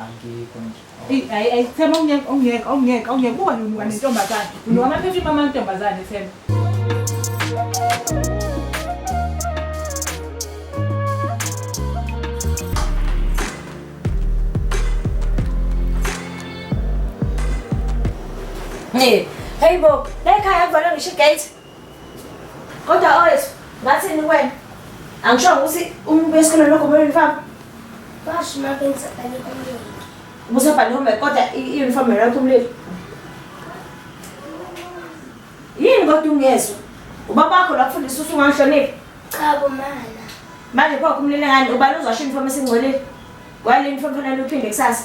angikho nje Eyi, ayi ayi Themba ungeke ungeke ungeke ungeke kuba nonuka nentombazane unuka amaphefini amantombazane Themba Hey, hey bo, la ekhaya kuvalwe ngisho igate. Kodwa owethu, ngathini kwena? Angishongo ukuthi umuntu esikoleni lokho kumele uniform. Basho uma benza bani kumlilo. Ubusa bani home kodwa i-uniform yona kumlilo. Yini kodwa ungezwa? Ubaba wakho lakufundisa ukuthi ungangihloniphi? Cha bomana. Manje pho kumlilo ngani ubani uzasho uniform esingcolile? Wale uniform fanele uphinde kusasa.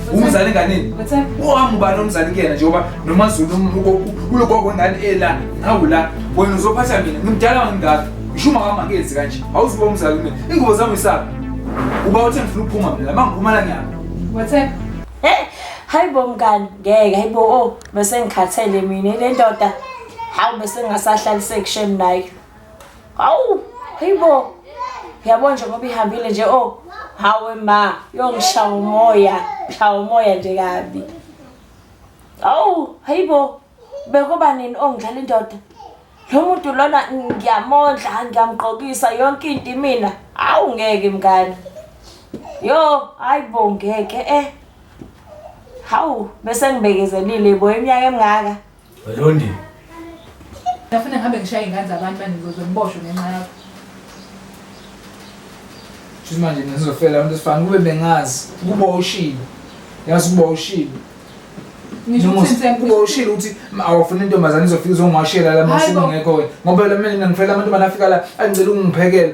umzali enganini uhambe ubani omzali kuyena njengoba nomazulu ulogogo ngani ela nawu la wena uzophatha mina ngimdala ngingaka ngisho uma wami angenzi kanje awuzuba umzali kumina ingubo zami isaphi uba uthe ngifuna ukuphuma mina ma ngiphuma la ngiyaphi wathepha eh, hayi bo mngani ngeke hayi bo o oh, bese ngikhathele mina le ndoda hawu bese ngingasahlaliseki shem nayo Hawu, hayibo. Yabo nje ngoba ihambile nje oh. Hawe ma, yongishaya umoya, shaya umoya nje kabi. Hawu, hayibo. Bekuba nini ongidlala indoda? Lo muntu lona ngiyamondla, ngiyamgqokisa yonke into imina. Hawu ngeke mngani. Yo, hayibo ngeke eh. Hawu, bese ngibekezelile bo iminyaka emingaka. Londi. Ngafuna ngihambe ngishaye ingane zabantu banizozwe ngiboshwe ngenxa yakho. Shuthi manje mina ngizofela abantu esifana kube bengazi ukuba ushilo. Yazi ukuba ushilo. Ngisho Noma ukuthi ngise- ukuba ushilo ukuthi ma- awafuna intombazane izofika izongwashela la Hayi bo. masimu ngekho wena. Ngoba la mina ngifela abantu banafika la angicela ungiphekela.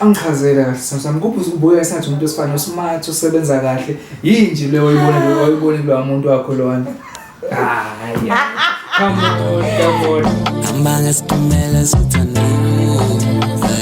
Angichazele kahle sithando sami kuphi ubuya esathi umuntu wesifane osmart osebenza kahle yini nje leyo oyibona leyo oyibona lo muntu wakho lona hayi come on come on Amanga siphumela sithandile